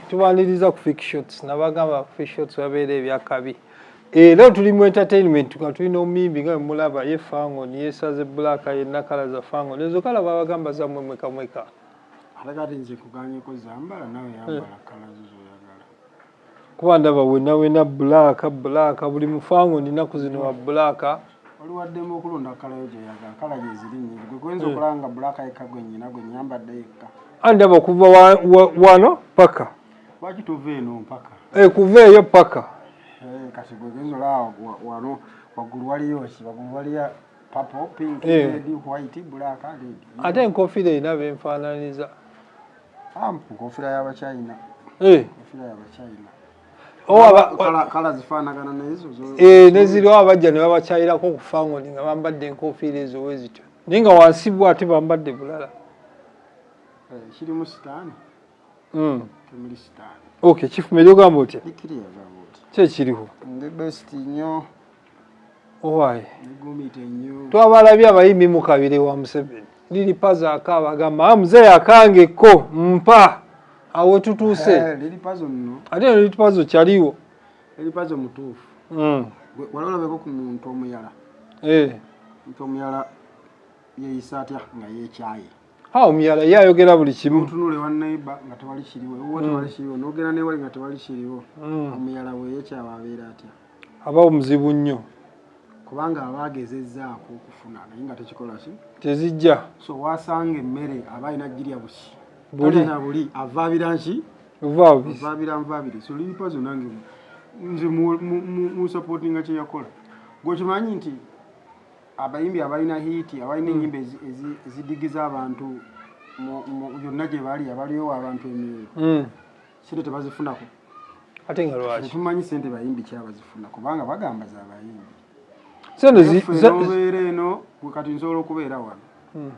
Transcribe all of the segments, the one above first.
tubaniriza ku fake shots nabagamba ku fake shots wabeera ebyakabi era eh, tuli mu entertainment nga tuli n'omuyimbi nga mulaba ye fango niyesaze black yenna kala za fango nezo kala babagamba zammwe mwekamweka atakati nze kuganyeko zambala nawe yambala eh. kala zozoyagala kuba ndaba wena wena black black buli mufango ninaku zino wa black waliwo addemu okulonda kala yo gyoyagala kala gyeziri nyingi gwe gwenza eh. okulaba nga bulaka yekka gwe nyina gwe nyambadde yekka andaba okuva wano paka lwaki tova eno mpaka eh, kuva eyo paka eh, kati gwe gwenza olaba wano waggulu waliyo ki waggulu waliya papo pink red white black red ate enkofiira erina benfaananiza ah, nkofiira yabachina enkofiira yabachina eh, neziriwo abajja ne babakyayirako okufangoni nga bambadde enkofiira ezo wezityo naye nga wansi bw ate bambadde bulala hmm. ok kifumaeri ogamba otya kyekiriho owaye twabalabye abayimbi mukabire wa museveni lili pazo akaaba agamba ah, muzeeyi akange ko mpa awo tutuuse eh, ate no lili pazo kyaliwo lili pazo mutuufu hmm. wali olabeko ku muntu omuyala eh. muntu omuyala yeyisa atya nga yekyaye Ha omuyala ye ayogera buli kimu. Otunule wa neighbor nga tewali kiriwo. Wo tewali mm. kiriwo. Nogera ne wali nga tewali kiriwo. Mm. Omuyala we ye kyawa abeera atya? Aba omuzibu nnyo. Kubanga aba agezezzaako okufuna naye nga tekikola ki? Tezijja. So wasanga emmere aba alina girya buki. Buli na buli avaabira nki? Vaabira. Vaabira nvaabire. So lili pazo nange nze mu mu mu supportinga kye yakola. Gwe kimanyi nti abayimbi abalina hiiti abalina enyimba ezidigiza abantu yonna gye bali abaliowa abantu emyoyo hmm. sente tebazifunako ate nga lwaki tumanyi sente bayimbi kyabazifuna kubanga bagamba zabayimbi senteobeera eno kati nsobola okubeera wano hmm.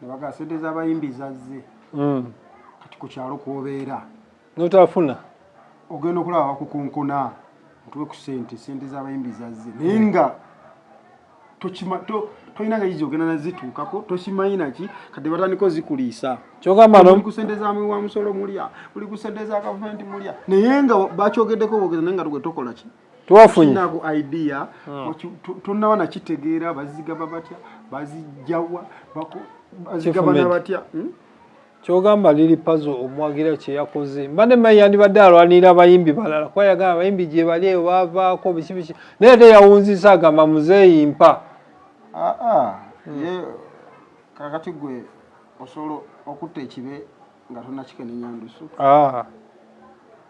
nebaga sente zabayimbi zazze hmm. kati ku kyalo kwobeera notafuna ogenda okulaba bakukonkona otuwe ku sente sente zabayimbi zazze naye hmm. nga tolina nga yizi ogenda nazituukako tokimanyi naki kadde batandika ozikuliisa kyogambaoli ku sente zamwe wa musolo mulya oli ku sente za gavumenti mulya naye nga bakyogeddeko bogeza naye nga tugwe tokola ki twafunyinaku idea hmm. tonaba nakitegeera bazigaba batya bazijjawa bazigabana batya hmm? Kyogamba Lili Pazo omuwagira kyeyakoze mbadde mayi yandibadde alwanirira abayimbi balala kuba yagamba abayimbi gyebali eyo bavaako biki biki naye ate yawunzisa agamba muzeeyi mpa ah, ah, ye kakati gwe osobola okutta ekibe nga tonakikenenya ndusu ah.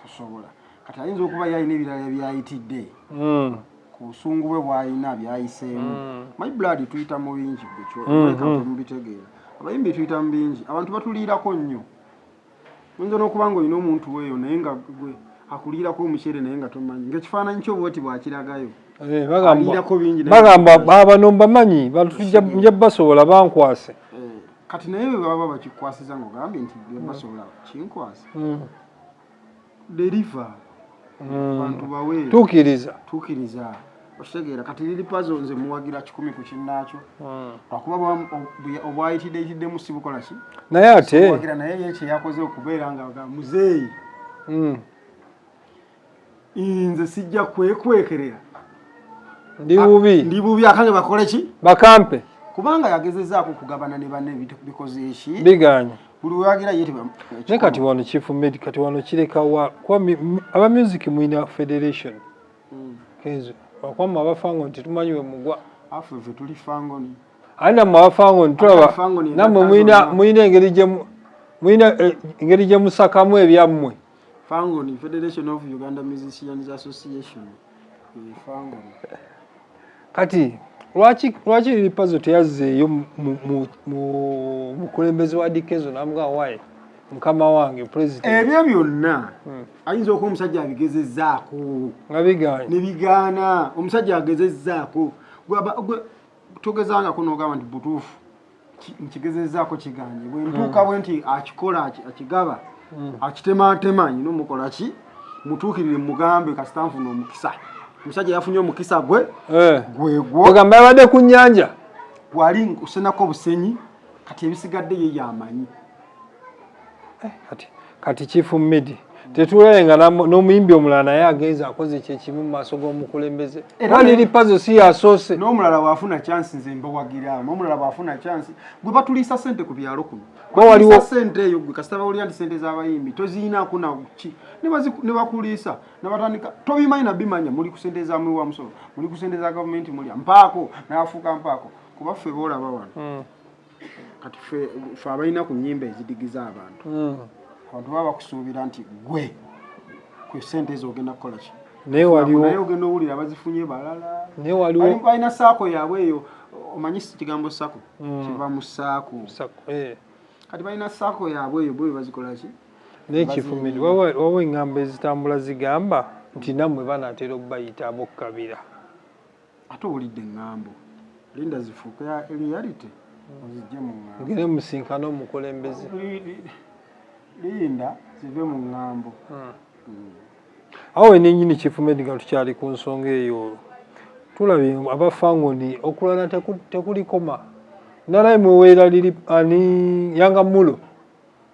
tosobola kati ayinza okuba yalina ebirala byayitidde hmm. ku busungu bwe bwalina byayiseemu mm. my blood tuyita mu bingi bwekyo mm-hmm. mubitegeera abayimbi tuyita mu bingi abantu batuliirako nnyo oyinza n'okuba nga olina omuntu weeyo naye nga gwe akuliirako omuceere naye nga tomanyi ngaekifaananyi kyo bwoti bwakiragayo eh, bagamba bano mbamanyi nja basobola bankwase eh, kati naye bwe baba bakikwasiza ngaogambye nti basobola kinkwasa mm. deliver mm. bantu bawe tukiriza tukiriza okitegeera kati liri pazo nze muwagira kikumi ku kinnaakyo mm. lwakuba obwayitiddeyitiddemu si bukola ki naye ate naye ye kyeyakoze okubeera nga muzeeyi mm. nze sijja kwekwekerera ndi bubi ndi bubi akange bakole ki bakampe kubanga yagezezaako okugabana ne banne bikoze eki biganye buli wewagira ye naye kati wano chief med kati wano kirekawa kuba aba music mwina federation hmm. kenzo wakwama abafango nti tumanyi we mugwa afe fe tuli fangoni ani namwe abafango nti tulaba namwe mwina engeri gye mwina eh, engeri gye musakamu ebyammwe Fangoni, Federation of Uganda Musicians Association. Eh, Fangoni. Kati lwaki lwaki lipazo teyazzeeyo mu mukulembeze wa dikezo namuga waye mukama wange president ebyo byonna hmm. ayinza okuba omusajja abigezezaako nga bigaana ne bigaana omusajja agezezaako togezangako nogamba nti butuufu nkigezezaako kiganye bwentuuka bwe nti akikola akigaba hmm. akitemaatema nyina omukola ki mutuukirire mugambe kasita nfuna omukisa omusajja yafunye omukisa gwe eh. gwegwogamba yabadde ku nyanja gwali nkusenako obusenyi kati ebisigadde ye yamanyi eh, kati kati chief midi tetulaye nga n'omuyimbi omulala naye agenza akoze kyekimu mu maaso g'omukulembeze aliri pazo si yasoose n'omulala bwafuna chansi nze mbawagira n'omulala bwafuna chansi gwe batuliisa sente ku byalo kuno waliwo sente eyo gwe kasita bawulira nti sente z'abayimbi toziyinaku nakuki ne bakuliisa nabatandika tobimanyi nabimanya muli ku sente za muli wa musolo muli ku sente za gavumenti mulya mpaako nabafuuka mpaako kuba ffe boolaba wano hmm. kati fe fe abalina ku nyimba ezidigiza abantu hmm. abantu baba bakusuubira nti gwe ku sente ezo ogenda kukola ki naye waliwo naye ogenda owulira bazifunye balala naye waliwo balina saako yaabwe eyo omanyi kigambo sako hmm. kiva mu saako eh. kati balina saako yaabwe eyo bwe bazikola ki naye kifumiri waliwo engambo ezitambula zigamba nti nammwe banatera obubayita abokukabira Ate owulidde ngambo. Linda zifuuke ya reality ozijje mu ngambo. Ngire musinkana omukulembeze. Linda zive mu ngambo. Hmm. Hmm. Awo enenyini chief medical tukyali ku nsonga eyo. Tulabye abafangoni okulana tekulikoma. Nalaye mweweera lili ani yanga mulo.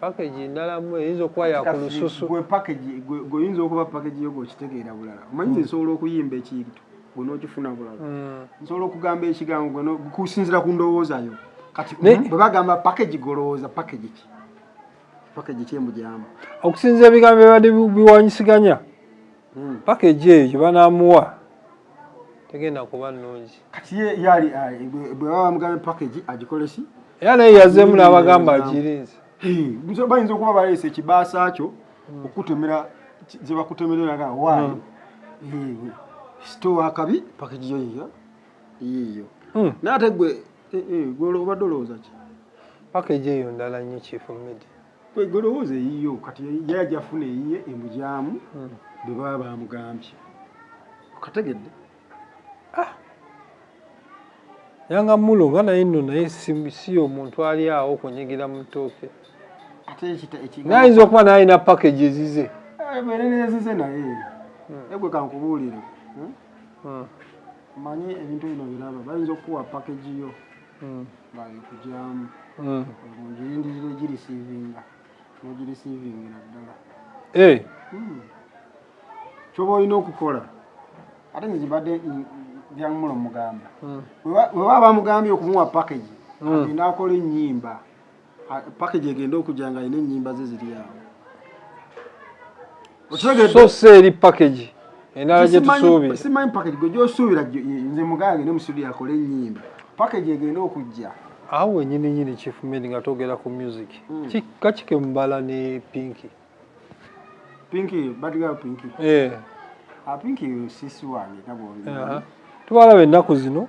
package endala mu eyinza okuba yakulususu gwe package gwe yinza okuba package yo gwokitegeera bulala omanyi mm. nsobola okuyimba ekintu gwe nokifuna bulala mm. nsobola okugamba ekigambo gwe kusinzira ku ndowooza yo kati mm, bwe bagamba package golowooza package ki package ki emujamba okusinzira ebigambo bibadde biwanyisiganya mm. package eyo banamuwa tegenda kuba nnungi kati ye yali ah, bwe baba bamugambye package agikolesi era naye yazeemu n'abagamba agirinze bayinza okuba baleese ekibaasa kyo hmm. okukutemera ze bakutemereraga waayo hmm. sitowa akabi package yo yiyo yiyo hmm. naye ate gwe eh, eh, gwe obadde olowooza ki package eyo ndala nnyo chief media kwegolowooza eyiyo kati yajafuna eyiye emujaamu hmm. bwebaba bamugambye okategedde ah. yanga mulo nga naye no naye si omuntu ali awo okunyegera mutooke nayinza okuba nayina package ezize ebererezize eh, naye hmm. egwe kankubuulire hmm? manyi ebintu bino biraba bayinza okukuwa package yo mm. bayikujamu mm. ngirindirira egirisiivinga nogirisiivingira ddala eh. hmm. kyoba olina okukola ate nze kibadde byamulo mugamba hmm. webaba bamugambye okumuwa package hmm. agenda akola ennyimba Ah, package egenda okujja nga alina ennyimba ze ziri awo so si eri package endala gye tusuubira simanyi package gwe gyosuubira nze mugange ne musudi yakole ennyimba package egenda okujja awo wenyini nyini chief med nga togera ku music hmm. kakike mubala ne pinki pinki badgal pinki eh. ah, pinki sisi wange nabwoli tubalabe ennaku zino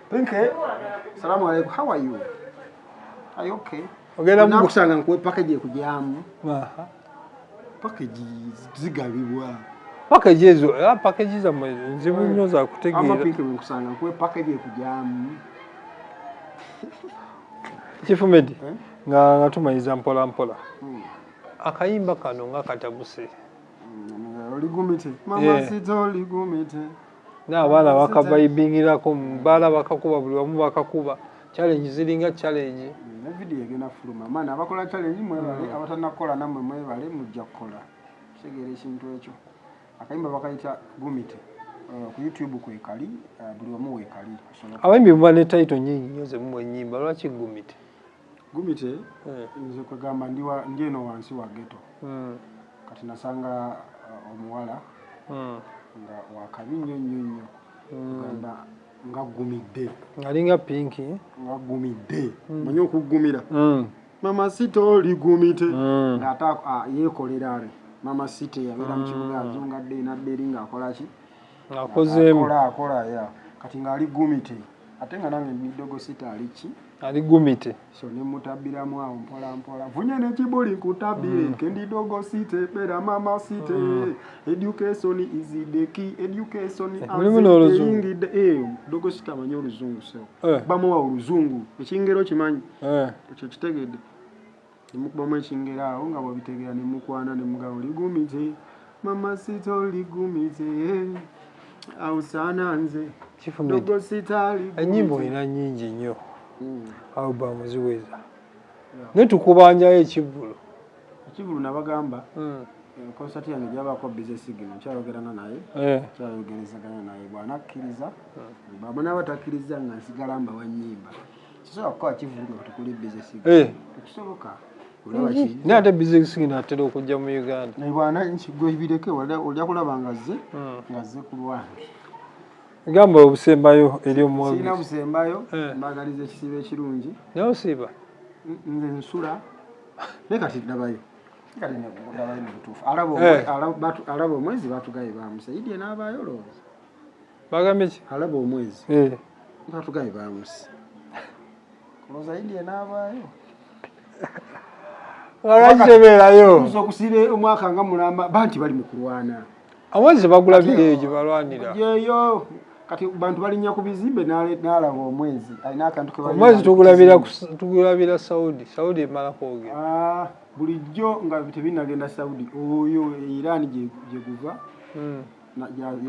Pinke, salamu alaikum. How are you? Are you okay? Ogenda mu kusanga nkuwe package ekujamu. Aha. Package zigabibwa. Package ezo, ah package za mwe nzibu nnyo za kutegeera. Ama pinke mu kusanga nkuwe package ekujamu. Chifu Medi, eh? nga nga tumanyiza mpola mpola. Hmm. Akayimba kano nga katabuse. Hmm, oligumite. Mama yeah. sito oligumite. na abaana bakabayibingirako baala bakakuba buli wamu bakakuba challenge ziringa challenge ne video egenda fuluma maana abakola challenge mwebale mm. abatanakola namwe mwebale mujja kukola kitegeera ekintu ekyo akayimba bakayita gumite uh, ku youtube kwekali uh, buli wamu wekali abayimbi muba ne title nyingi nyo zemumu enyimba lwaki gumite gumite eh. nze kwegamba ndi eno wansi wa geto hmm. kati nasanga uh, omuwala hmm. nga wakabi nnyo nnyo nnyo hmm. gamba nga gumidde alinga pinki nga gumidde manyi okugumira mama sita oli gumite ngaate ah, yekolera are mama sita yabeera mukibuga azungadde nadde eri ngaakolaki ng'akozeemu akola akola ya kati ng'ali gumite ate nga nange midogo sita ali ki ali gumite so ne mutabbiramu awo mpola mpola vunye ne kibuli nkutabire mm. kendi dogo site bera mama site mm. education is the key education eh, mulimu n'oluzungu eh dogo sita amanyi oluzungu sewo eh. bamuwa oluzungu ekingero kimanyi eh. ekyo kitegedde Ne mukubamu ekingero awo nga bw'obitegera ne mukwana ne mugamba oligumidde mama sita oligumidde awo saana nze dogo sita aligumidde. Ennyimba olina nnyingi nnyo hmm. albamu ziweza naye tukubanjayo ekivvulu. Ekivvulu nabagamba hmm. konsati eh, yange gyabako bizesigino nkyayogerana naye eh. kyayogerezagana naye bwanakkiriza hmm. bwaba naaba takkirizza nga nsigala mbawa nnyimba. eh. naye ate bizinesi ngino atera okujja mu uganda gamba obusembayo eri omwogezi obusembayo eh. mbagaliza ekisiibo ekirungi naye osiiba nze nsula naye kati ndabayo kati ndabayo mubutuufu alaba eh. omwezi batugaye bamusayidye n'abaayo olowooza bagambye ki alaba omwezi eh batugambye bamusi kuloza yindi enabaayo walwakitebeerayo kuza okusiba omwaka nga mulamba banti bali mu kulwana awezi bagula bireyo gye balwanira yeyo kati bantu balinya ku bizimbe nalaba omwezi alina akantu omwezi tugulabira saudi saudi emala kwogera ah, bulijjo nga tebinagenda saudi oyo iran gyeguva hmm.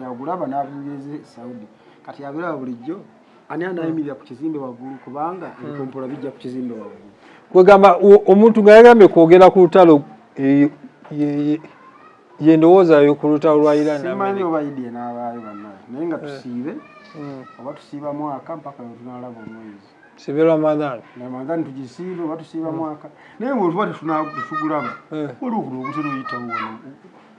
yagulaba n'abinyumiza e saudi kati yabiraba bulijjo ani anayimirira ku kizimbe waggulu kubanga hmm. ebikompola bijja ku kizimbe waggulu kwegamba omuntu nga yagambye kwogera ku lutalo e, ye ndowooza yo ku lutalo lwa iransimanyi oba idia n'abaayo banaye naye nga eh. tusiibe hmm. oba tusiiba mwaka mpaka wetunalaba omwezi sibe ramadhan ramadhan tugisiibe oba tusiiba hmm. mwaka naye bwetuba tetunagulaba eh. waliwo kuno ogutera oyitawo